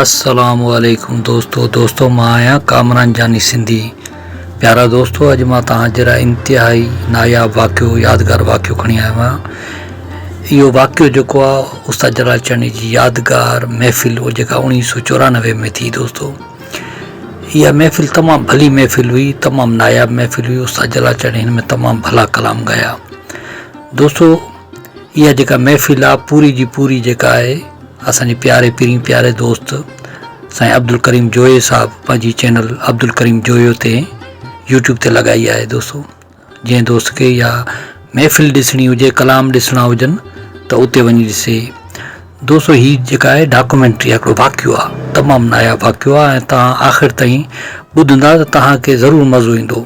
السلام عليڪم دوستو دوستو مان آهيان ڪامران جاني سنڌي پيارا دوستو اڄ مان توهان جي لاء انتهائي ناياب واقعو يادگار واقعو کڻي آيو آهيان اهو واقعو جيڪو آهي استاد جلال چاني جي يادگار محفل هو جيڪا اڻيهه سو چورانوي ۾ ٿي دوستو اها محفل تمام ڀلي محفل هئي تمام ناياب محفل هئي استاد جلال چاني هن ۾ تمام ڀلا ڪلام ڳايا دوستو اها جيڪا محفل آ پوري جي پوري جيڪا آهي اسان جي پياري پرين پياري دوست سائين عبدالڪريم جويي صاحب پنهنجي چينل عبدالڪريم جويو تي يوٽيوب تي لڳائي آهي دوستو جنهن دوست کي اها محفل ڏسڻي هجي ڪلام ڏسڻا هجن ته اتي وڃي ڏسي دوستو هي جيڪا آهي ڊاڪومينٽري آهي هڪڙو واقعو آهي تمام ناياب واقعو آهي ۽ تان آخر تائين ٻڌندا ته تهان کي ضرور مزو ايندو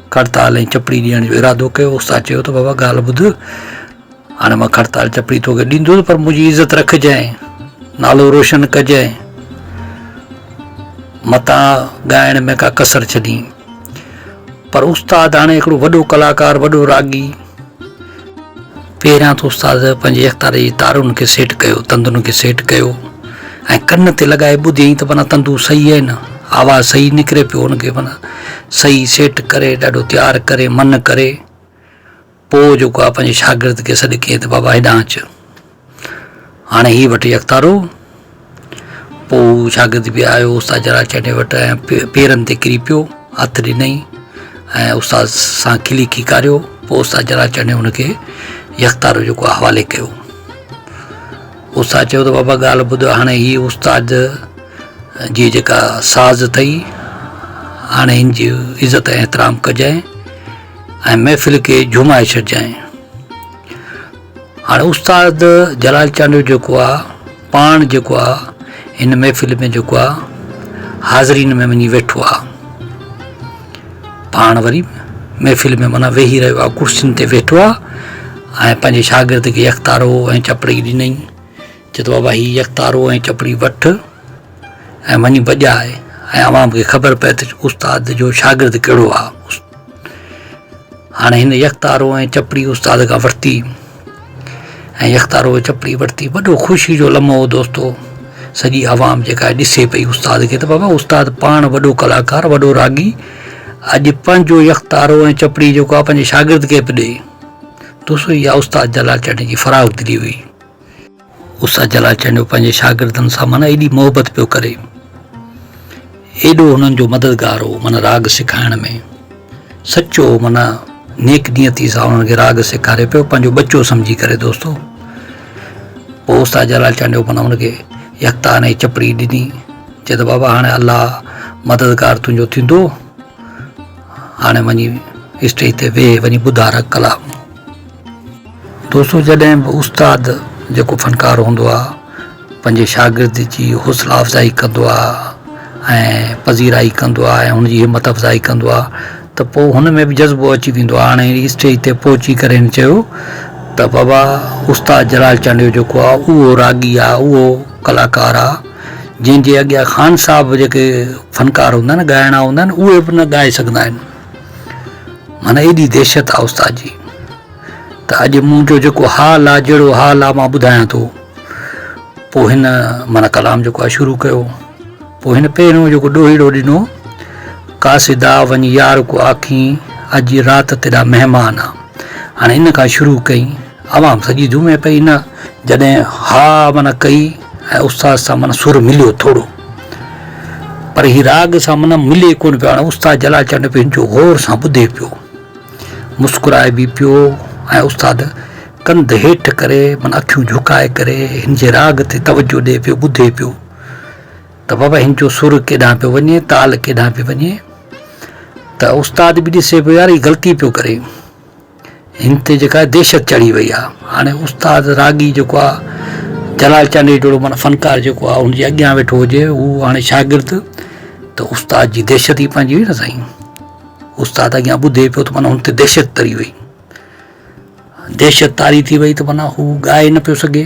کڙتال ۽ چپڙي ڏيڻ جو ارادو ڪيو استاد چيو ته بابا ڳالهه ٻڌ هاڻي مان کڙتال چپڙي توکي ڏيندس پر منهنجي عزت رکجانء نالو روشن ڪجانء متان ڳائڻ ۾ ڪا ڪسر ڇڏين پر استاد هاڻي هڪڙو وڏو ڪلاڪار وڏو راڳي پهريان ته استاد پنهنجي اختار جي تارن کي سيٽ ڪيو، تندن کي سيٽ ڪيو ۽ ڪن تي لڳائي ٻڌيائين ته معنيٰ تندو صحيح آهن، آواز صحيح نڪري پيو ان کي معنيٰ صحيح سيٽ ڪري ڏاڍو تيار ڪري من ڪري پوء جيڪو آهي پنهنجي شاگرد کي سڏ ڪيائين ته بابا هيڏانهن اچ. هاڻي هي وٺي اختارو. پوء هو شاگرد به آيو استاد جلال چني وٽ ۽ پيرن تي ڪري پيو. هٿ ڏنئي ۽ استاد سان کلي کيڪاريو. پوء استاد جلال چني هن کي هي اختارو جيڪو حوالي ڪيو. استاد چيو ته بابا ڳالهه ٻڌ هاڻي هي استاد جي جيڪا ساز اٿئي هاڻي هن جي عزت ۽ احترام ڪجانء ۽ محفل کي جهومائي ڇڏجانء. هاڻ استاد جلال چانڊيو جيڪو آ پاڻ جيڪو آ هن محفل ۾ جيڪو آ حاضرين ۾ وڃي ويٺو آ پاڻ وري محفل ۾ منا ويهي رهيو آ ڪرسين تي ويٺو آ ۽ پنهنجي شاگرد کي اختارو ۽ چپڙي ڏنئي چئي ٿو بابا هي يڪ تارو ۽ چپڙي وٺ ۽ وڃي بجاء ۽ عوام کي خبر پئي ته استاد جو شاگرد ڪهڙو آ. هاڻي هن يڪ تارو ۽ چپڙي استاد کان ورتي ۽ يڪ تارو ۽ چپڙي ورتي وڏو خوشي جو لمحو هو دوستو سڄي عوام جيڪا ڏسي پئي استاد کي ته بابا استاد پاڻ وڏو ڪلاڪار وڏو راڳي اڄ پنهنجو يڪ تارو ۽ چپڙي جيڪو آ پنهنجي شاگرد کي پئي ڏئي دوستو اها استاد جلال چٽ جي فراخ دلي هئي. استاد جلال چانڊيو پنهنجي شاگردن سان معنيٰ ايڏي محبت پيو ڪري، ايڏو هنن جو مددگار هو معنيٰ راڳ سکائڻ ۾ سچو معنيٰ نيڪ نيتي سان انهن کي راڳ سيکاري پيو پنهنجو ٻچو سمجهي ڪري دوستو پوء استاد جلال چانڊيو معنيٰ هن کي يڪتا ۽ چپڙي ڏني چي ته بابا هاڻي الله مددگار تنهنجو ٿيندو هاڻي وڃي اسٽيج تي ويهه وڃي ٻڌاء راڳ ڪلام. دوستو جڏهن به استاد جيڪو فنڪار هوندو آ پنهنجي شاگرد جي حوصلا افزائي ڪندو آ ۽ پذيرائي ڪندو آ ۽ هن جي همت افزائي ڪندو آ ته پوء هن ۾ به جذبو اچي ويندو آ هاڻي اسٽيج تي پهچي ڪري هن چيو ته بابا استاد جلال چانڊيو جيڪو آ اهو راڳي آ اهو ڪلاڪار آ جنهن جي اڳيان خان صاحب جيڪي فنڪار هوندا آهن ڳائڻا هوندا آهن اهي به نه ڳائي سگهندا آهن معنيٰ ايڏي دهشت آ استاد جي ته اڄ منهنجو جيڪو حال آ جهڙو حال آ مان ٻڌايان ٿو. پوء هن معنيٰ ڪلام جيڪو آ شروع ڪيو. پوء هن پهريون جيڪو ڏوهيڙو ڏنو، قاصدا وڃ يار ڪو آکين اڄ رات تيڏا مهمان آ. هاڻي ان کان شروع ڪئين. عوام سڄي جهومي پئي نه جڏهن ها معنيٰ ڪئي ۽ استاد سان معنيٰ سر مليو ٿورو پر هي راڳ سان معنيٰ ملي ڪونه پيو هاڻي استاد جلال چنڊ به هن جو غور سان ٻڌي پيو مسڪرائي به پيو ۽ استاد ڪنڌ هيٺ ڪري معنيٰ اکيون جهڪائي ڪري هن جي راڳ تي توجهه ڏئي پيو ٻڌي پيو ته بابا هن جو سر ڪيڏانهن پيو وڃي تال ڪيڏانهن پيو وڃي ته استاد به ڏسي پيو يار هي غلطي پيو ڪري هن تي جيڪا دهشت چڙهي وئي آهي هاڻي استاد راڳي جيڪو آهي جلال چانڊيٽوڙو معنيٰ فنڪار جيڪو آهي ان جي اڳيان ويٺو هجي هو هاڻي شاگرد ته استاد جي دهشت ئي پنهنجي هئي نه سائين استاد اڳيان ٻڌي پيو ته معنيٰ هن تي دهشت تري وئي دهشت طاري ٿي وئي ته معنيٰ هو ڳائي نه پيو سگهي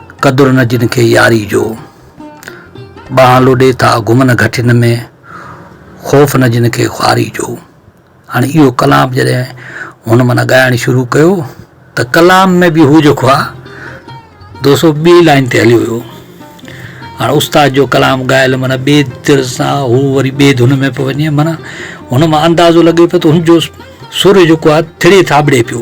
قدر نه جن کي ياري جو. ٻانهن لوڏي ٿا گهمن گهٽين ۾، خوف نه جن کي خواري جو. هاڻي اهو ڪلام جڏهن هن معنيٰ ڳائڻ شروع ڪيو ته ڪلام ۾ به هو جيڪو آهي دوسو ٻئي لائين تي هليو ويو. هاڻي استاد جو ڪلام ڳايل معنيٰ ٻئي در سان هو وري ٻئي ڌن ۾ پيو وڃي معنيٰ هن مان اندازو لڳي پيو ته هن جو سر جيڪو آهي ٿڙي ٿاٻڙي پيو.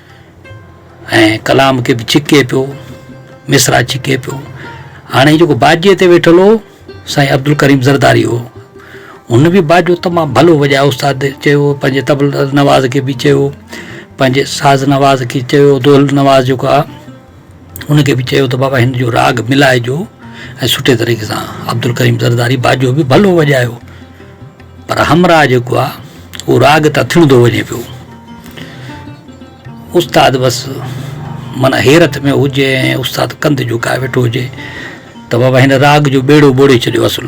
۽ ڪلام کي به ڇڪي پيو، مصرع ڇڪي پيو. هاڻي جيڪو باجي تي ويٺل هو سائين عبدالڪريم زرداري هو. هن به باجو تمام ڀلو وڄايو استاد چيو پنهنجي طبل نواز کي به چيو پنهنجي ساز نواز کي چيو دول نواز جيڪو آ هن کي به چيو ته بابا هن جو راڳ ملائجو ۽ سٺي طريقي سان عبدالڪريم زرداري باجو به ڀلو وڄايو پر همراهه جيڪو آهي اهو راڳ تان ٿڻندو وڃي پيو استاد بس معنيٰ حيرت ۾ هجي ۽ استاد ڪنڌ جهڪائي ويٺو هجي ته بابا هن راڳ جو ٻيڙو ٻوڙي ڇڏيو اصل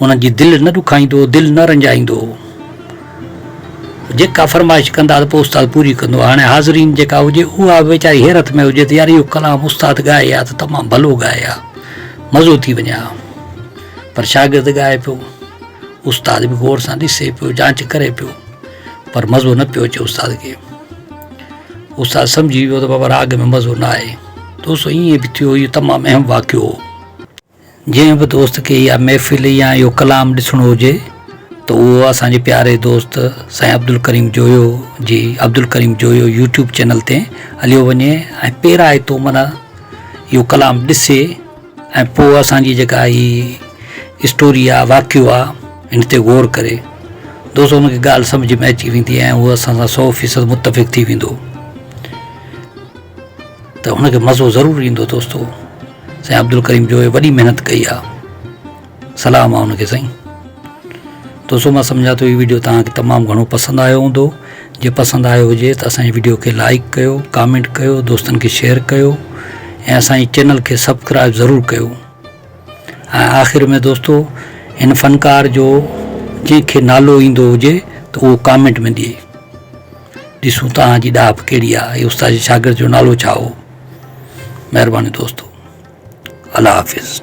انهن جي دل نه ڏکائيندو، دل نه رنجائيندو هو. جيڪا فرمائش ڪندا ته پوء استاد پوري ڪندو. هاڻي حاضرين جيڪا هجي اها به ويچاري حيرت ۾ هجي ته يار اهو ڪلام استاد ڳائي ها ته تمام ڀلو ڳائي ها. مزو ٿي وڃي ها. پر شاگرد ڳائي پيو. استاد به غور سان ڏسي پيو، جانچ ڪري پيو. پر مزو نه پيو اچي استاد کي. استاد سمجهي ويو ته بابا راڳ ۾ مزو نه آهي. دوستو ائين به ٿيو اهو تمام اهم واقعو هو. جنهن به دوست کي اها محفل يا اهو ڪلام ڏسڻو هجي ته اهو اسان جي پياري دوست سائين عبدالڪريم جويو جي عبدالڪريم جويو يوٽيوب چينل تي هليو وڃي ۽ پيرائي تو من اهو ڪلام ڏسي ۽ پوء اسان جي جيڪا هي اسٽوري آ واقعو آ ان تي غور ڪري دوست ان کي ڳالهه سمجھ ۾ اچي ويندي ۽ هو اسان سان سو فيصد متفق ٿي ويندو ته هن کي مزو ضرور ايندو دوستو سائين عبدالڪريم جويي وڏي محنت ڪئي آ سلام آ ان کي سائين دوستو مان سمجهان ٿو هي ويڊيو توهان کي تمام گهڻو پسند آيو هوندو جي پسند آيو هجي ته اسان جي ويڊيو کي لائڪ ڪيو ڪامينٽ ڪيو دوستن کي شيئر ڪيو ۽ اسان جي چينل کي سبسڪرائب ضرور ڪيو ۽ آخر ۾ دوستو هن فنڪار جو جنهن کي نالو ايندو هجي ته اهو ڪامينٽ ۾ ڏي ڏسون توهان جي ڏاهپ ڪهڙي آ استاد جي شاگرد جو نالو ڇا هو مهرباني دوستو الله حافظ